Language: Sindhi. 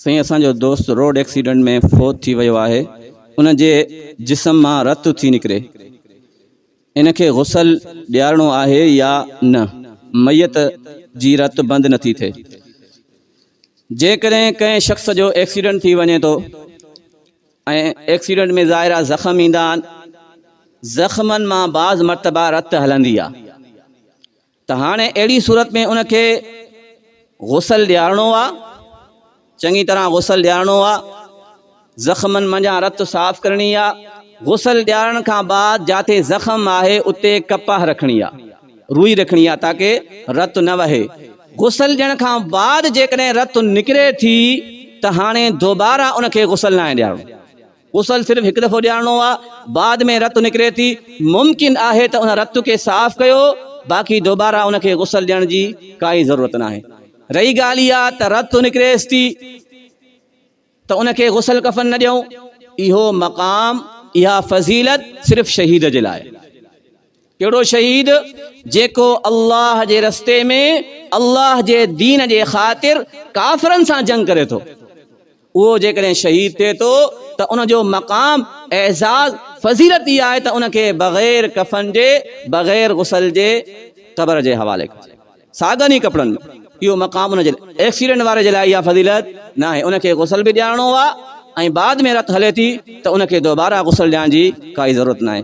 سائين اسان جو دوست روڊ ايڪسيڊنٽ ۾ فوت ٿي ويو آهي ان جي جسم مان رت ٿي نڪري ان کي غسل ڏيارڻو آهي يا نه ميت جي رت بند نٿي ٿئي جيڪڏهن ڪنهن شخص جو ايڪسيڊنٽ ٿي وڃي ٿو ۽ ايڪسيڊنٽ ۾ ظاهرا زخم ايندا آهن زخمن مان بعض مرتبا رت هلندي آهي ته هاڻي اهڙي صورت ۾ ان کي غسل ڏيارڻو آ، چڱي طرح غسل ڏيارڻو آ، زخمن منجهان رت صاف ڪرڻي آ، غسل ڏيارڻ کان بعد جاتي زخم آهي اتي ڪپاهه رکڻي آ، روئي رکڻي آ تاڪه رت نه وهي، غسل ڏيڻ کان بعد جيڪڏهن رت نڪري ٿي ته هاڻي دوباره ان کي غسل ناهي ڏيارڻو. غسل صرف هڪ دفعو ڏيارڻو آهي بعد ۾ رت نڪري ٿي ممڪن آهي ته ان رت کي صاف ڪيو باقي دوباره ان کي غسل ڏيڻ جي ڪائي ضرورت ناهي رهي ڳالهه اها ته رت نڪريس ٿي ته ان کي غسل ڪفن نه ڏيون اهو مقام اها فضيلت صرف شهيد جي لاء ڪهڙو شهيد جيڪو الله جي رستي ۾ الله جي دين جي خاطر ڪافرن سان جنگ ڪري ٿو اهو جيڪڏهن شهيد ٿئي ٿو ته ان جو مقام، اعزاز، فضيلت اها آهي ته ان کي بغير ڪفن جي، بغير غسل جي قبر جي حوالي ڪجي، ساڳن ئي ڪپڙن ۾. اهو مقام ان جي ايڪسيڊنٽ واري جي لاء اها فضيلت ناهي. ان کي غسل به ڏيارڻو آهي ۽ بعد ۾ رت هلي ٿي ته ان کي دوباره غسل ڏيارڻ جي ڪائي ضرورت ناهي.